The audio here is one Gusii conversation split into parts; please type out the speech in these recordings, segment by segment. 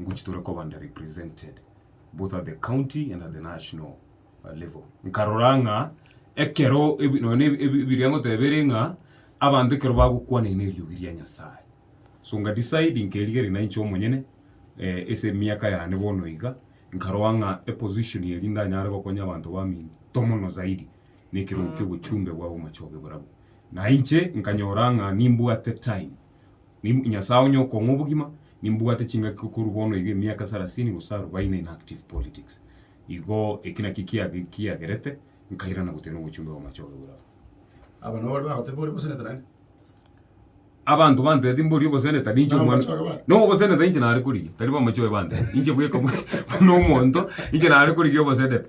ngochia tore koba under represented both at the county and at the national uh, level nkarora ng'a ekero ebi- nonye ebi- ebi- ebiria ngotebere ng'a abanto ekero bagokwana ine eriogi ria nyasaye so nga decide nkerigeria nainche omonyene eh, ase emiaka yane bono iga nkaroa ng'a eposition eri ndanyare gokonya abanto bamino tomono zaidi na ekerogo kia obochumbe bwa bomachoge borabwo nainche nkanyora ng'a nimbwate time Nib Nyasae onye okong'a obogima, nimbwate chingaki korwa bono iga emiaka sarasini gose arubaini in active politics. Igo eki nakio kiage kiagerete nkairana gotenena obochumbe bw'amache oyo bore abo. Aba nabo baria bagoteba ore boseneta naende. Abanto bantebeti mbori oboseneta ninche Nabo omwana. amache oyo bare. No oboseneta inche nare korigia, tari bamache oyo bantebeti. Inche bweka buna omonto, inche nare korigia oboseneta.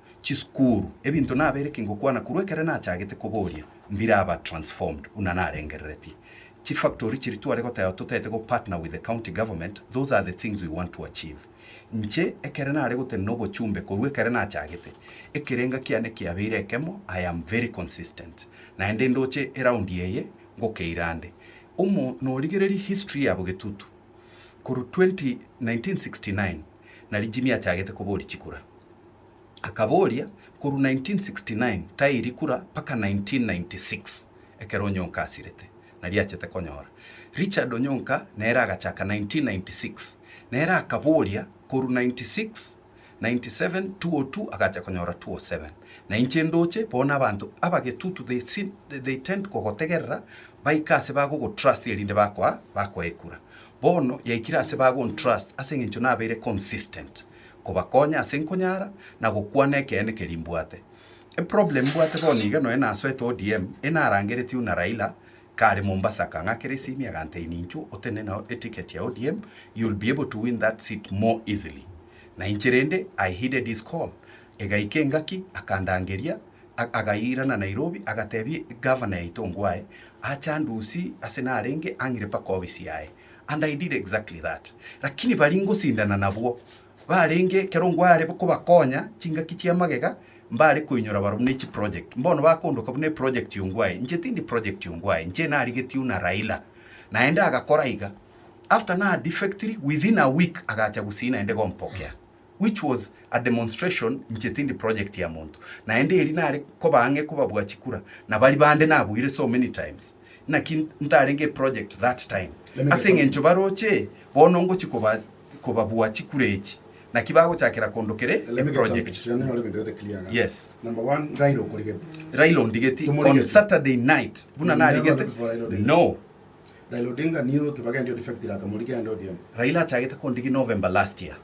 chisukuru, ebinto nabeire ki ngokwana korwa ekero nachagete koboria, mbiraba transformed buna narengereretie. Chi factory chiria tware goteba totaete go partner with the county government, those are the things we want to achieve. Inche ekero nare gotenena obochumbe korwa ekero nachagete, ekerenga kiane kiabeire ekemo, I am very consistent. Naende ndoche eround eye ngokeira nde omo norigereria history yabo Getutu korwa 1969 nario Jimmy achagete koboria chikura. Akaboria, Korwa 1969 tairi kura mpaka 1996 ekero Onyonka asirete, nario achete konyora. Richard Onyonka nere agachaka 1996, nere akaboria korwa 96, 97, 202 agacha konyora 207. Na inche ndoche bono abanto abagetutu they seem they tend kogotegerera baike ase bagogotrust erinde bakoa bakoe ekura. Bono yaikire ase bagontrust ase eng'encho nabeire consistent. kobakonya ase nkonyara na gokwana ekeene keria mbwate. Eproblem mbwate bono iga nonya nasoete ODM enarangeretie una Raila kare Mombasa akang'akera esimi aganteini inchuo otende nao eticket ya ODM you'll be able to win that seat more easily na inche rende I heeded his call egaika engaki akandangeria agaiirana Nairobi agatebia Governor yaito ngwae ache andusie ase narenge ang'ire mpaka office yaye. And I did exactly that. Lakini baria ngosindana nabwo barenge ekero ngware kobakonya chingaki chia magega mbare koinyora barabwo ne chiproject. Mbono bakondoka buna eproject Ongwae. Inche tindi project Ongwae. Inche narigetie una Raila. Naende agakora iga. After na defectiri within a week agacha gusii naende gompokea. which was a demonstration inche tindi project ya monto naende eri nare koba ang'e kobabua chikura na bari bande nabuire so many times naki ntarenge project that time ase eng'encho baroche bono ngochi koba kobabua chikura echi naki bagochakera kondokere e project yes Raila ondigeti on Saturday night buna narigete no Raila achagete kondigi November last year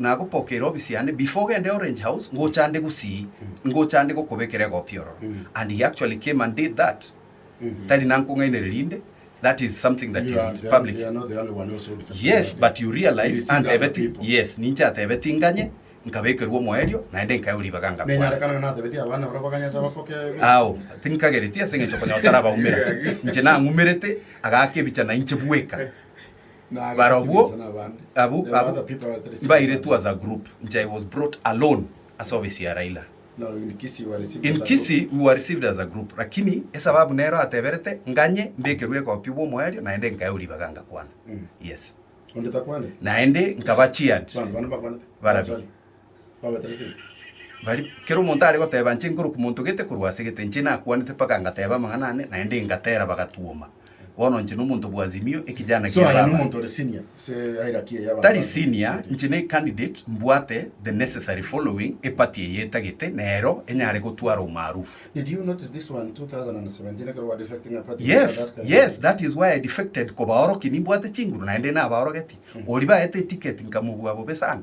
Nagopokeire obisi yane before ogende Orange House ngocha nde gusii, ngocha nde gokobekera egopi ororo and he actually came and did that tari nankong'ainereria inde that is something that is public yes but you realize antebeti yes ninche atebeti nganye nkabekerwa omoerio naende nkaewa ribaga ngakwana ao tinkagereti ase eng'encho okonyora tarabaumera inche nang'umerete agaaka ebicha nainche bweka Barabwo abwo abwo mbairetwe as a group nche I was brought alone ase office ya Raila. In Kisii we were received as a group lakini esababu nero ateberete nganye mbekerwe ekopi bw'omoerio naende nkaewa ribaga ngakwana. Yes. Naende nkaba cheered barabwo. Bari, kera omonto are goteba, Inche nkoroku monto gete korwa ase gete, inche nakwanete mpaka ngateba amang'ana ane, naende ngatera bagatwoma. Bono inche nomonto bw'Azimio, ekijana So, aya ki'ababani. nomonto ore senior ase hierarchy eye y'abanto Tari ba senior, Azimio. inche ne candidate mbwate the necessary following e party eye etagete, nero enyare gotwara omaarufu. Did you notice this one 2017 ekero wa defecting a party? Yes, That kind of yes, thing. that is why I defected kobaorokia nimbwate chinguru naende nabaorogetie. Oria baete eticket nkamobua bobe sana.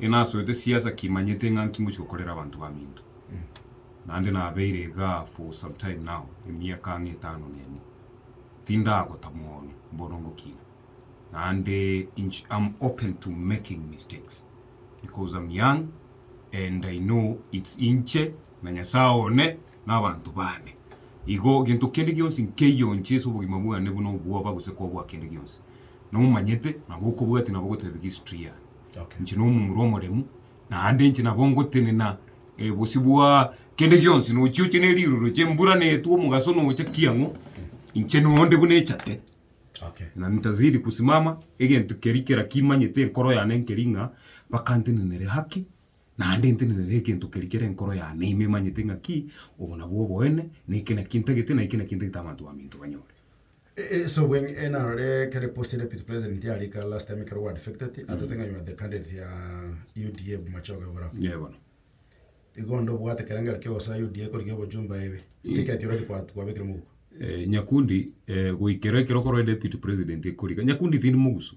Inasoete siasa kimanyete ng'a nkingochia gokorera abanto baminto. Naende nabeire iga for some time now, emiaka ang'e etano na emo. Tindagota mono bono ngokina. Naende inch am open to making mistakes because am young and I know it's inche na Nyasae one na abanto bane. Igo gento kende gionsi nkeiyonche ase obogima bwane buna obwoba gose koboa kende gionsi. Nomanyete nabo okobwatia nabo gotebia history yane. Inche nomomura omoremu, naende inche nabo ngotenena bosio bwa kende gionsi, nochioche ne riroroche, embura netwe, omogaso nocha, ki ang'o? Inche nonde buna echate, na nitazidi kusimama, egento keria kera kimanyete enkoro yane nkeri ng'a mpaka ntenenere haki, naende ntenenere egento keria kere enkoro yane ime emanyete ng'a ki, obo nabwo oboene, na eke naki ntagete, na eke naki ntagete abanto baminto banyore. Ase obong'aini eh narore ekero post ya deputy president yarika last time ekero gwa defected atete ng'a you are the candidate ya UDA Machoge Iborao. Ee bono. Igo onde obwate ekerengerio kia ogosoa UDA ekorigia obojumba ebe. Ticket already kwa kwabekire moguko. Eh Nyakundi eh goikera ekero okorwa deputy president ekorika. Nyakundi tindi mogusu.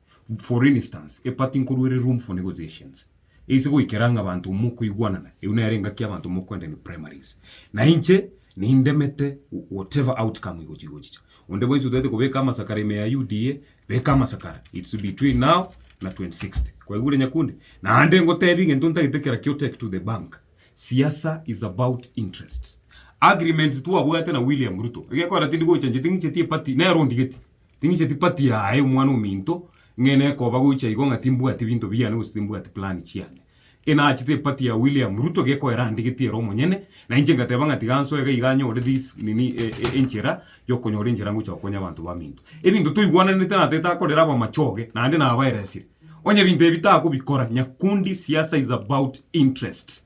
For instance, a party nkoruere room for negotiations eise goikera ng'a abanto mokoigwanana, eyio nere engaki y'abanto mokoenda in primaries. Na inche nindemete whatever outcome igochi igochicha. Onde bwensi otaete kobeka amasakara ime ya UDA, beka amasakara. It's between now na 2060. Kwaigure Nyakundi? Naende ngotebie egento ntagete kera kio take to the bank. Siasa is about interests. Agreements twabwate na William Ruto, egekogera tindi gocha inche ting'icheti a party, nere ondigeti. Ting'icheti party yaye omwana ominto ng'e nekoba goicha igo ng'a timbwati binto biane gose timbwati plan chiane. E nachete e party ya William Ruto gekoa erandigeti ere omonyene na inche ngateba ng'a tiga nsoe iga iga nyore this nini e e enchera yokonyora enchera ngocha gokonya abanto baminto. Ebinto toigwananete natete akorera abamachoge naende nabaeresire. Onye ebinto ebi takobikora, Nyakundi siasa is about interests.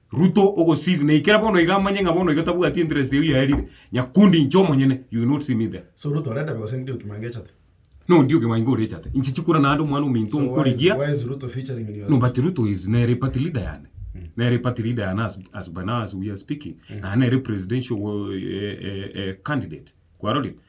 Ruto ogosizi na ikera bono iga amanye ng'a bono iga tabwati interest eyio yaerire. Nyakundi inche omonyene you will not see me there. So Ruto oretabe gose ndi Okimwange echate? No ndi Okimwange ore echate. Inche chikura naende omwana ominto So why is, nkorigia why is Ruto featuring in your No song? but Ruto is nere party leader yane. Nere party leader yane as, as by now as we are speaking. Naende nere presidential eh, eh, eh, candidate. Kwarorire?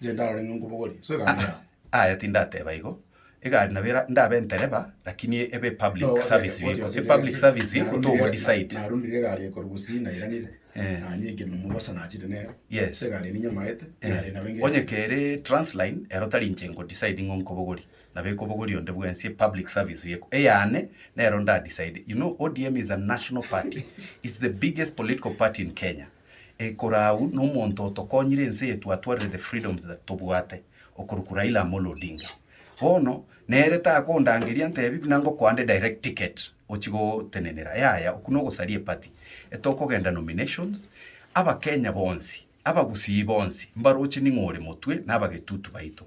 Inche ndarore ng'a nkobogorie, so egari yao. Aya tindateba igo, egari nabo era- ndabe entereba, lakini ebe epublic Nogoteeba, service goteeba vehicle. sende Epublic egari, service vehicle narundire- togo decide. Narundire egari eye korwa Gusii nairanire, Eh. nanyekire na omobasa nachire nere, Yes. so egari eye ninyamaete, egari nabo engencho. Onye kere Transline, ero tari inche nko decide ng'a nkobogorie, nabo ekobogoria onde bwensi, epublic service vehicle. Eyane, nero nda decide. You know ODM is a national party. It's the biggest political party in Kenya. Ekorau nomonto otokonyire ense yetu atwarire the freedoms that tobwate okoruku Raila Amolo Odinga bono nere takondangeria ntebi buna ngokoande direct ticket ochi gotenenera yaya oku nogosaria eparty etokogenda nominations abakenya bonsi abagusii bonsi mbaroche ning'o ore motwe nabagetutu baito.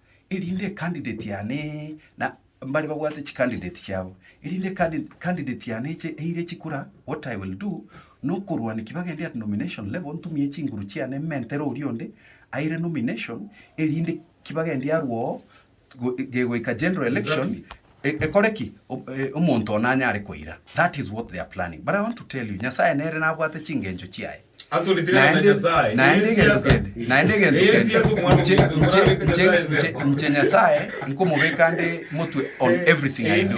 erinde ecandidate yane na mbare babwate chicandidate chiabo erinde candidate yane eche eire chikura what I will do nokorwania kibagende at nomination level ntumie chinguru chiane mentere oria onde aire nomination erinde kibagende arwoo gegoika general election e- ekore ki O- e- omonto one anyare koira that is what they are planning but I want to tell you nyasaye nere nabwate chingencho chiaye Naende, naende egento kende, naende egento kende, inche, inche, inche, inche, inche Nyasae nkomobeka nde motwe on everything I do.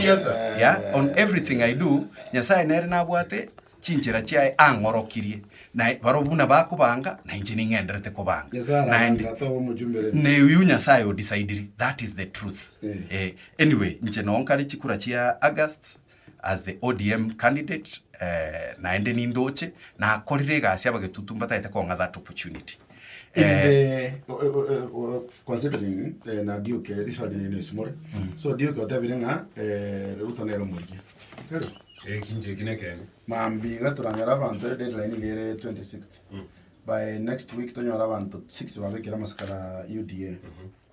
Yeah, on everything I do, Nyasae nere nabwate chinchera chiaye ang'orokirie. Naye barobwo buna bakobanga, na inche ning'enderete kobanga. Nyasae Naende, arabanga toba omochumbereri. neuyu nyasaye o decidiri that is the truth Eh. eh, anyway nche noo nkare chikura chia august As the ODM candidate naende nindoche nakorire egasi abagetutu mbataete kong'a that opportunity. In the considering na Duke riswali riri nesimore. So Duke otebire ng'a Ruto nere omorigia. Kare? Eki inche eki nekende. Mambi iga toranyore abanto deadline iga ere 2060. By next week tonyore abanto 6 babekire amasikara UDA.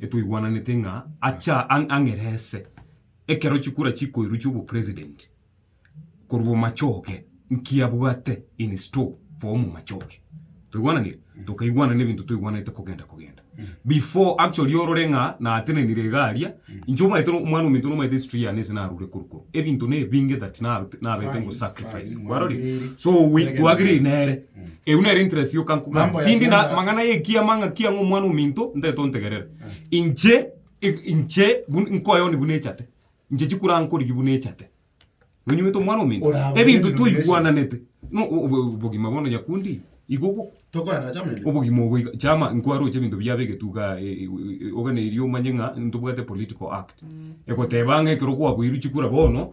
Etwaigwananete ng'a acha ang ang'e rese ekero chikura chikoirwa chia obopresident korwa omachoge nki abwate in store for omomachoge. Twaigwananire? Tokaigwanana ebinto twaigwanete kogenda kogenda. Before actually orore ng'a natenenire iga aria, inche omanyete no omwana ominto nomanyete history yane ase narure korwa korwa. Ebinto na ebinge that na nabete ngosacrifice. Kwarorire? So we twagereri nere. Erio nere interest yoka nkogana Mambo ya tindi na kianda. mang'ana y'ekiama ng'a kiang'a omwana ominto ntaete ontegerera inche i- inche bun- nkoyoni buna echate inche chikura nkorigi buna echate nonyuete omwana ominto Orabone ebinto denomination. twaigwananete no o- o- obogima bono nyakundi igo ogo Tokorana na chama ende. obogima obo iga- chama nkwaroche ebinto biabe egetuga e- e- e- ogana erio omanye ng'a ntobwate political act egoteba ng'a ekero kwaboirwe chikura bono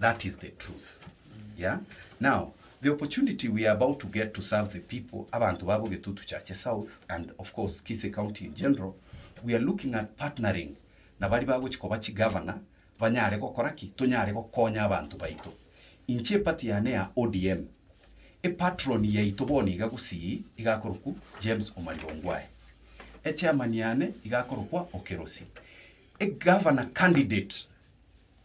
That is the truth yeah now the opportunity we are about to get to serve the people abanto babo Getutu Chache South and of course Kisii County in general we are looking at partnering na bari bagochi koba chi governor banyare gokora ki tonyare gokonya abanto baito inche epati yane ya ODM e patron yaito bono iga Gusii igakorokwu James Omariba Ongwae e chairman yane igakorokwa Okerosi e governor candidate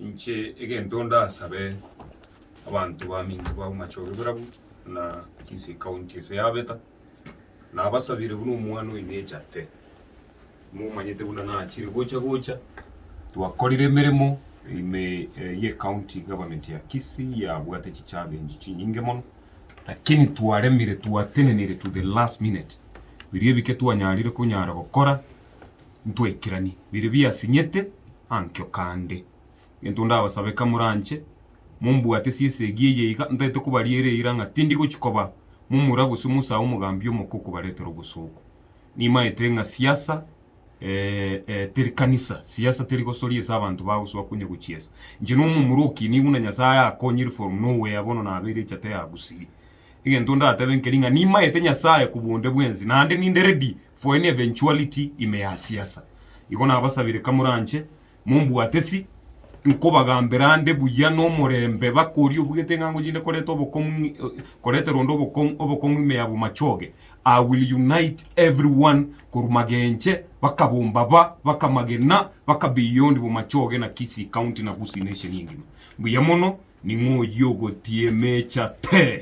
Inche egento ndasabe abanto baminto ba Bomachoge barabwo na inse ecounty ase yabeta, nabasabire buna omwana oyo nechate, momanyete buna nachire gocha gocha, twakorire emeremo ime ye ecounty government ya Kisii yabwate chichallenge chinyinge mono, lakini twaremire twatenenire to the last minute, biria ebike twanyarire konyara gokora ntwekeranie biria biasinyete ankio kande. Egento ndabasabe eka moranche mombwate ase esegi eye iga, ntaete kobariera eira ng'a tindi gochia koba momura gose mosae omogambi omoke okobaretera obosooku. Nimaete ng'a siasa teri kanisa, siasa teri gosoria ase abanto bagosoa konya gochiesa. Inche nomomura okinie buna Nyasae akonyire from nowhere bono nabeire echata ya Gusii. Egento ndatebe nkeri ng'a nimaete Nyasae kobua onde bwensi naende ninde ready For any eventuality in me ya siasa, igo nabasabire kamoranche mombwate si, nkobagambera nde buya nomorembe bakori obugete ng'a ngochinde koreta obokong'u ng'i koretera onde obokong'u obokong'u ime ya bomachoge, I will unite everyone korwa magenche baka bombaba baka magena baka beyond bomachoge na Kisii county na Gusii nation engima. Mbuya mono, ning'o oyio ogotiia emecha tee.